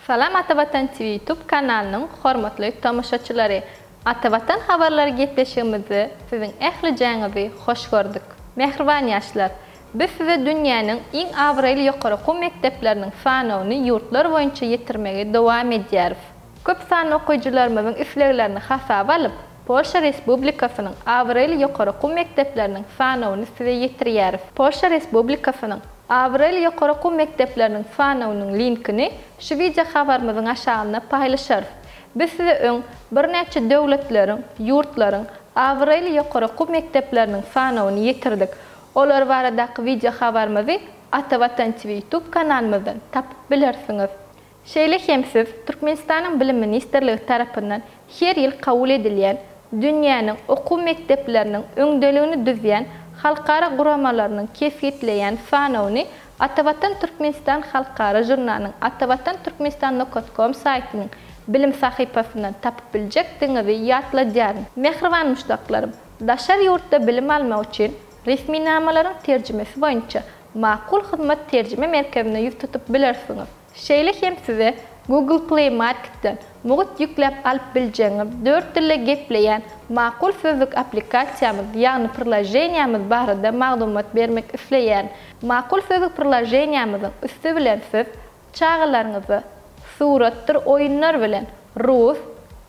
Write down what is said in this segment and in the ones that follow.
Salam Ata Watan TV YouTube kanalynyň hormatly tomaşaçylary! Ata Watan habarlary gepleşigimizde siziň ählijäňizi hoş gördük. Mähriban ýaşlar! Biz size dünýäniň iň abraýly ýokary okuw mekdepleriniň sanawyny ýurtlar boýunça ýetirmegi dowam edýäris. Köp sanly okyjylarymyzyň isleglerini hasaba alyp, Polşa Respublikasynyň abraýly ýokary okuw mekdepleriniň sanawyny size ýetirýäris. Polşa Respublikasynyň abraýly ýokary okuw mekdepleriniň sanawynyň linkini şu wideohabarymyzyň aşagynda paýlaşarys. Biz size öň birnäçe döwletleriň, ýurtlaryň abraýly ýokary okuw mekdepleriniň sanawyny ýetirdik. Olar baradaky wideohabarymyzy Ata Watan TV ýutub kanalymyzdan tapyp bilersiňiz. Şeýle hem siz Türkmenistanyň Bilim ministrligi tarapyndan her ýyl kabul edilýän dünýäniň okuw mekdepleriniň öňdeligini düzýän halkara guramalarynyň kesgitleýän sanawyny Atavatan Türkmenistan halkara žurnalynyň Atavatan Türkmenistan Nokoscom saýtynyň bilim sahypasyndan tapyp biljekdigiňizi ýatladýaryn. Mähriban muşdaklarym! Daşary ýurtda bilim almak üçin resminamalaryň terjimesi boýunça Makul Hyzmat terjime merkezine ýüz tutup bilersiňiz. Şeýle hem size Google Play Marketden mugt ýükläp alyp biljegiňiz dört dilde gepleýän Makul Sözlük applikasiýamyz, ýagny priloženiýamyz barada maglumat bermek isleýärin. Makul Sözlük priloženiýamyzyň üsti bilen siz Çagalaryňyza suratdyr oýunlar bilen rus,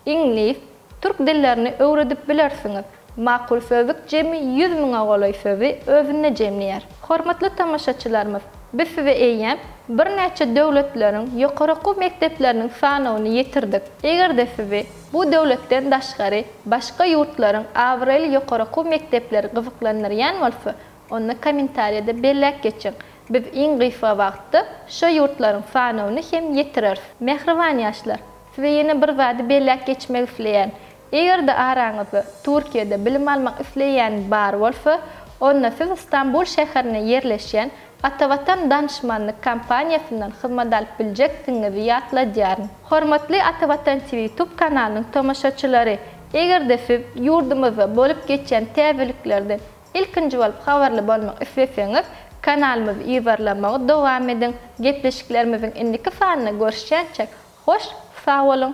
iňlis, türk dillerini öwredip bilersiňiz. Makul sözlük jemi ýüz müňe golaý sözi özünde jemleýär. Hormatly tomaşaçylarymyz, biz size eýýäm birnäçe döwletleriň ýokary okuw mekdepleriniň sanawyny ýetirdik. Eger-de sizi bu döwletden daşgary başga ýurtlaryň abraýly ýokary okuw mekdepleri gyzyklandyrýan bolsa, Onda kommentariýada belläp geçiň. Biz iň gysga wagtda şo ýurtlaryň sanawyny hem ýetireris. Mähriban ýaşlar! Size ýene bir zady belläp geçmek isleýän. Eger-de araňyzda Türkiýede bilim almak isleýän bar bolsa, onda siz Stambul şäherinde ýerleşýän Atavatan danyşmanlyk kompaniýasyndan hyzmat alyp biljekdigiňizi ýatladýaryn. Hormatly Atavatan TV YouTube kanalynyň tomaşaçylary! Eger-de siz ýurdumyzda bolup geçýän täzeliklerden Ilkinji bolup habarly bolmak isleseňiz, kanalymyzy ýybarlamagy dowam ediň! Gepleşiklerimiziň indiki sanynda görüşýänçäk, hoş sag boluň!